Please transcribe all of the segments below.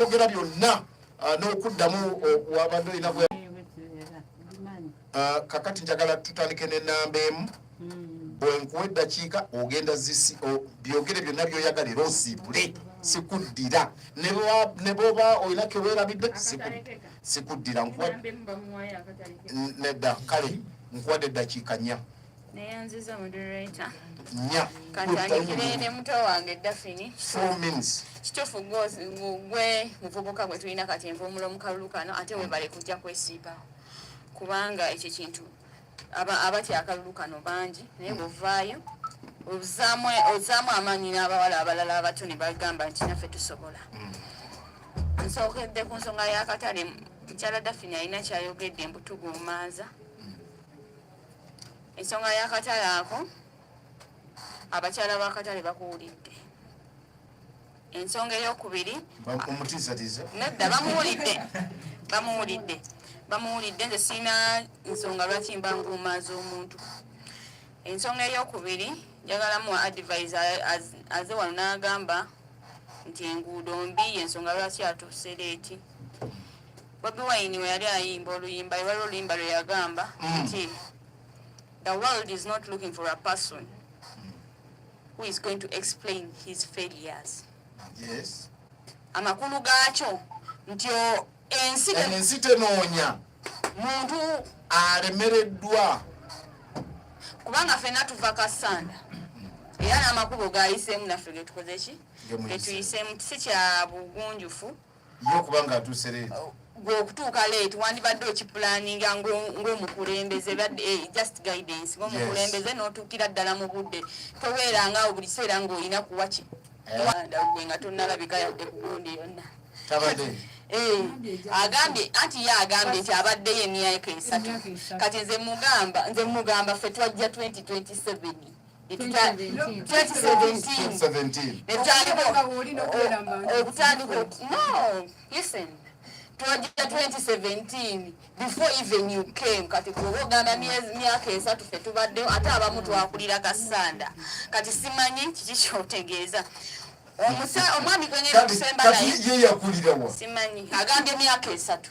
okwogera byonna uh, n'okuddamu wabadde olina gwe uh, kakati njagala tutandike nenamba emu hmm. bwenkuwa eddakiika ogenda zisi byogere byonna byoyagala era osiibule sikuddira ne bwoba olina kewerabidde sikuddira nedda kale nkuwadde eddakiika nnya neyanziza moderator katandikire ne muto wange dafini kitufu gwe muvubuka gwe tulina kati envumulo mukalulu kano ate webale kujja kwesiibawo kubanga ekyo kintu abatya akalulu kano bangi naye bwovaayo ozaamu amaanyi n'abawala abalala abato ne bagamba nti naffe tusobola mm. nsookedde ku nsonga y'akatale mukyala dafini alina kyayogedde mbutuguumaaza ensonga y'akatale ako abakyala b'akatale bakuwulidde ensonga ey'okubiri nedda bamuwulidde bamuwulidde bamuwulidde nze sirina nsonga lwaki mba nguuma z'omuntu ensonga ey'okubiri njagala muwa advise aze wano n'agamba nti enguudo mbi yensonga lwaki atuuse leeti Bobi Wine we yali ayimba oluyimba lwali oluyimba lwe yagamba mm. nti the world is not looking for a person who is going to explain his failures yes amakulu gaakyo nti ensi ensi tenoonya muntu alemereddwa kubanga fena tuva kasanda era n'amakubo gayisemu naffe getukoze ki getuyisemu si kya bugunjufu yo kubanga atuuse leeti oh, gwe okutuuka leeti wandibadde okipulaninga ng'omukulembeze badde eh, just guidance ng'omukulembeze n'otuukira ddala mu budde tobeeranga awo buli kiseera ng'olina kuwa ki eh. wanda gwe nga tonnalabika yadde ku gundi yonna tabadde Eh, agambye anti ye agambye nti abaddeyo emyaka esatu kati nze mugamba nze mugamba ffe twajja 2027 twajja 2017 before even you came kati kuba ogamba myaka esatu fe tubaddewo ate abamu twakulira kasanda kati simanyi kiki kyotegeeza omwami gwenyeri okusembalaiyeyakulirawa simanyi agambye myaka esatu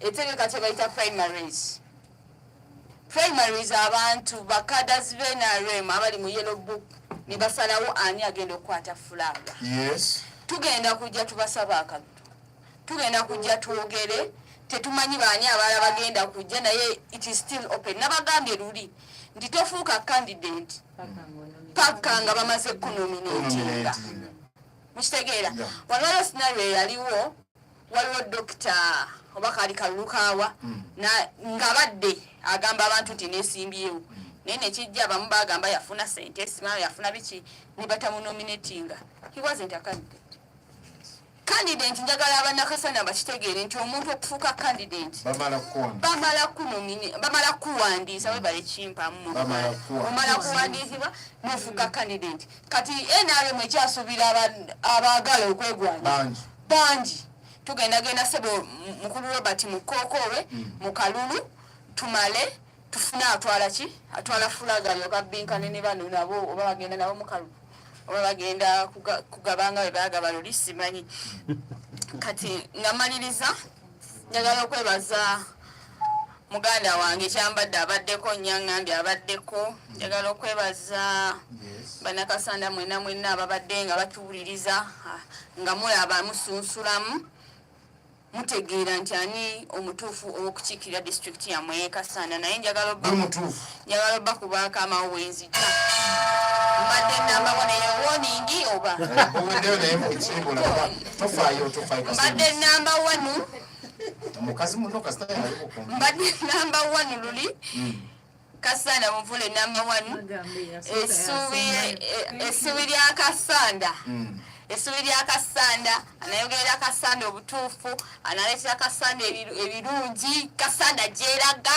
etegeka kyebayita primaries primaries abantu bakadazi be nrm abali mu yellow book ne basalawo ani agenda okukwata fulaga yes. tugenda kujja tubasaba akatu tugenda kujja twogere tetumanyi baani abaala bagenda kujja naye it is still open nabagambye luli nti tofuuka candidate paka nga bamaze kunominatinga mukitegeera waliwo scenario eyaliwo waliwo dokita oba kaali kalulukaawa hmm. nga badde agamba abantu nti nesimbyewo hmm. naye nekijja abamu bagamba yafuna sente simao yafuna biki nebatamunominatinga he wasn't a candidate candidate njagala abanakasana bakitegeere nti omuntu okufuuka candidate bamala kuwandiisa webale kimpamu omala kuwandiisibwa nofuuka candidate kati nrm ekyasuubira abaagala okwegwanya bangi tugendagenda sebo mukulu robert mukokowe mm. mukalulu tumale tufune atwala ki atwala fulaga yokabinkane ne bano nabo oba bagenda nabo mukalulu oba bagenda kugabanga bebagaba luli simanyi kati ngamaliriza njagala okwebaza muganda wange kyambadde abaddeko nyangambi abaddeko njagala okwebaza banakasanda mwena mwena ababadde nga batuwuliriza ah, nga mulaba musunsulamu mutegeera nti ani omutuufu ow'okukiikirira disitulikiti yamwe yekasanda naye njagala njagala obba ku baakamawo bwenzija mbadde nambako naye woningi oba mbadde namba wanu mukazi muno kasita mbadde namba wanu luli hmm. kasanda muvule namba wanu essuubi e, e, lya kasanda hmm. essuubi lya kasanda anayogerera kasanda obutuufu analeetera kasanda ebirungi kasanda gyeraga